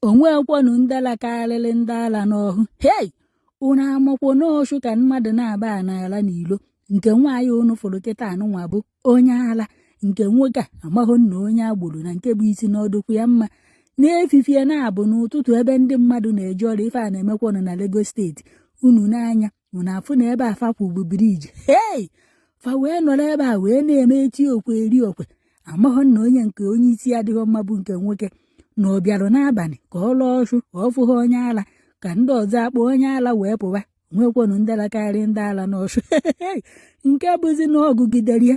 o nweekwanụ ndị ala karịrị ndị ala n'ọhụ hei unu amakwo na ọchụ ka mmadụ naabọ na-ala n'ilo nke nwaanyị unu fụrụ kịta anụnwa bụ onye ala nke nwoke a amaghị na onye agboro na nke bụ isi na-adụkwọ ya mma n'efifie naabọ n'ụtụtụ ebe ndị mmadụ na-eje ọrụ ife a na-emekwanụ na Lagos State unu n'anya unu afụ na ebe a fa kwụ bụ bridge hei fa wee nọrọ ebe a wee na-eme eti okwe eri okwe amaghọ na onye nke onye isi adịghị mma bụ nke nwoke na ọ bịara n'abalị ka ọ laa ọchụ ọ fụghị onye ala ka ndị ọzọ akpọ onye ala wee pụwa o nwekwanụ ndị ala karịrị ndị ala n'ọchụ nke bụzi na ọ gụgidere ya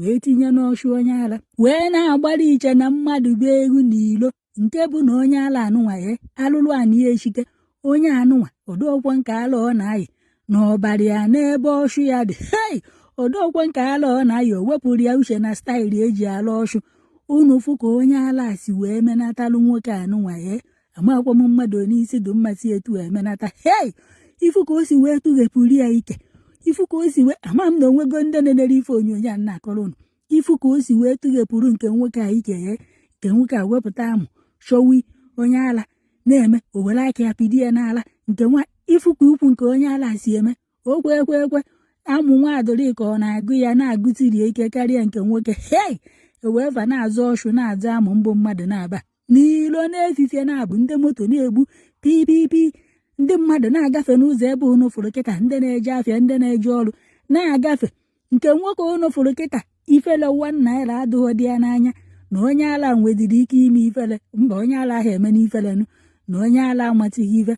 wee tinye n'ọchụ onye ala wee na-agbara iche na mmadụ bụ egwu n'ilo nke bụ na onye ala anụnwa ya alụlụ anị ya echite onye anụnwa ọ dụọkwọ nke ala ọ na-ayị na ọ bara ya n'ebe ọchụ ya dị hei ọ dụọkwọ nke ala ọ na-ayị o wepụrụ ya uche na style e ji ala ọchụ unu fụ ka onye ala si wee menatalụ nwoke anụnwa ya amakwa m mmadụ onye isi dị mma si etu emenata hei ị fụ ka o si wee tụghepụrụ ya ike ị fụ ka o si wee ama m na o nwego ndị na-enere ife onyonyo a na-akọrọ unu ị fụ ka o si wee tụghepụrụ nke nwoke a ike ya nke nwoke a wepụta amụ chọwa onye ala na-eme o were aka ya pidi ya n'ala nke nwa ị fụ ka ukwu nke onye ala si eme o kwe ekwe ekwe amụ nwa adịrị ka ọ na-agụ ya na-agụsiri ike karịa nke nwoke hei e wee na-azụ ọchụ na-azụ amụ mbụ mmadụ naabọ n'ilo n'efifie naabọ ndị moto na-egbu pipipi ndị mmadụ na-agafe n'ụzọ ebe unu fụrụ kịta ndị na-eje afịa ndị na-eje ọrụ na-agafe nke nwoke unu fụrụ kịta ifele one naira adịghịdị ya n'anya na onye ala nwedịrị ike ime ifele mba onye ala ahụ eme n'ifelenu na onye ala amatighị ife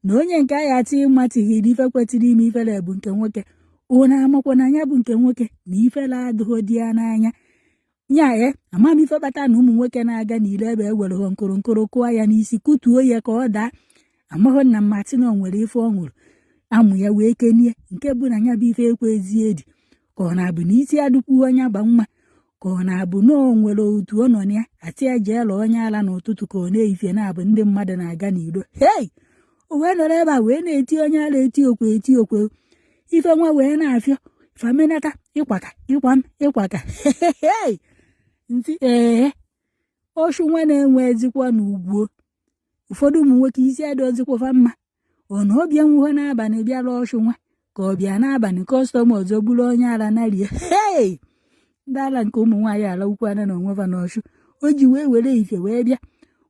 na onye nke agha ati ịmatighị na ife kwetịrị ime ifele bụ nke nwoke unu amakwa na nya bụ nke nwoke na ifele adịghịdị ya n'anya ya ghe ama m ife kpata na ụmụ nwoke na-aga n'ilo ebe e were nkụrụ nkụrụ kụọ ya n'isi kụtuo ya ka ọ daa amaghị na mmatị na o nwere ife ọ ṅụrụ amụ ya wee kenie nke bụ na ya bụ ife ekwezi edi ka ọ na-abụ na isi adụkwọ onye agba mma ka ọ na-abụ na o nwere otu ọ nọ na ya asị ya jee laa onye ala n'ụtụtụ ka ọ n'efifie naabọ ndị mmadụ na-aga n'ilo hei o wee nọrọ ebe a wee na-eti onye ala eti okwe eti okwe ife nwa wee na-afịọ famenata ịkwaka ịkwa m ịkwaka ntị ee ọchụ nwa na-enwezikwanụ ugwu o ụfọdụ ụmụ nwoke isi adịọzikwa fa mma ọ na ọ bịanwuhọ n'abalị bịa laa ọchụ nwa ka ọ bịa n'abalị customer ọzọ bụrụ onye ara narie hei ndị ara nke ụmụ nwaanyị ala ukwu ana na onwe va n'ọchụ o ji wee were ife wee bịa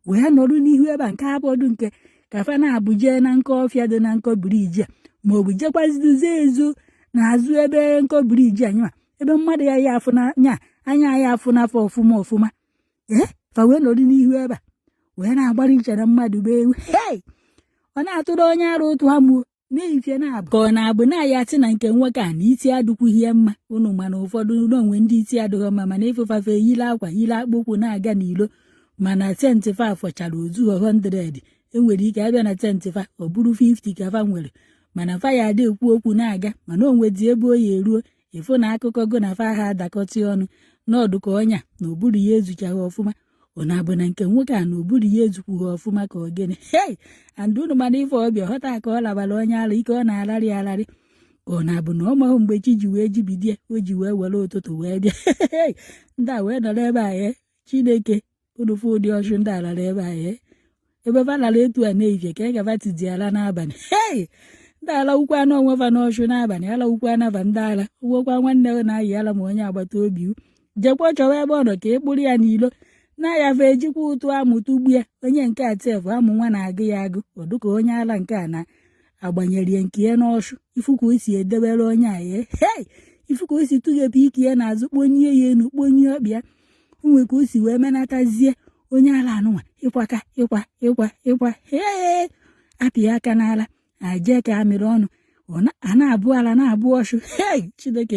wee nọrụ n'ihu ebe a nke abọdụ nke ka fa na-abụ jee na nkọ ọfịa dị na nkọ bridge a ma ọ bụ jekwaziduzie ezo n'azụ ebe nkọ bridge anyị ma ebe mmadụ ya ya afụ nya anya ya afụ n'afọ ọfụma ọfụma ee fa wee nọrụ n'ihu ebe a wee na-agbara i chere mmadụ bụ ewu hei ọ na-atụrụ onye ara ụtụ amụ o n'ehifie na-abụ ka ọ na-abụ na ya atị na nke nwoke a na iti adụkwughị ya mma unu ma na ụfọdụ na o nwe ndị iti adịghị mma mana ị fụ fa fa eyile akwa yile akpụ ụkwụ na-aga n'ilo mana sense fa afọchara ozu 100 e nwere ike abịa na sense fa ọ bụrụ 50 ka fa nwere mana fa ya-adị ekwu okwu na-aga mana o nwedị ebe ọ ya-eru o ị fụ na akụkọ gụ na fa ha adakọtị ọnụ n'ọ dụ ka onye a na ụbụrụ ya ezuchaghị ọfụma ọ na-abụ na nke nwoke a na ụbụrụ ya ezukwughị ọfụma ka ọ gịnị hei a ndị unu ma na ife ọ bịa ghọta ka ọ labara onye ala ike ọ na-alarị alarị ka ọ na-abụ na ọ mahụ mgbe chi ji wee jibidie o ji wee were ụtụtụ wee bịa ndị a wee nọrọ ebe a ee eh, chineke unu fụ ụdị ọchụ ndị a lara ebe a ee ebe fa lara etu a n'ehifie kee ka va tizi ala n'abalị hei ndị ala ukwu anụ onwe fa n'ọchụ n'abalị ala ukwu anaba ndị ala i nwekwa nwanne gị na-ayị ala ma onye agbata obi jekwa chọwa ebe ọ nọ ka ị kpụrụ ya n'ilo na-aya fa ejikwa ụtụ amụ tụgbue onye nke a sef amụ nwa na-agụ ya agụ ọ dụ ka onye ala nke a na agbanyere ya nke ya n'ọchụ ị fụ ka o si edebere onye a ya hei ị fụ ka o si tụghepụ ike ya n'azụ kponye ya enu kponye ọ pịa o nwe ka o si wee menatazie onye ala anụnwa ịkwaka ịkwa ịkwa ịkwa hee a pịa aka n'ala e jee ka a mịrị ọnụ a na-abụ ala na-abụ ọchụ hei chineke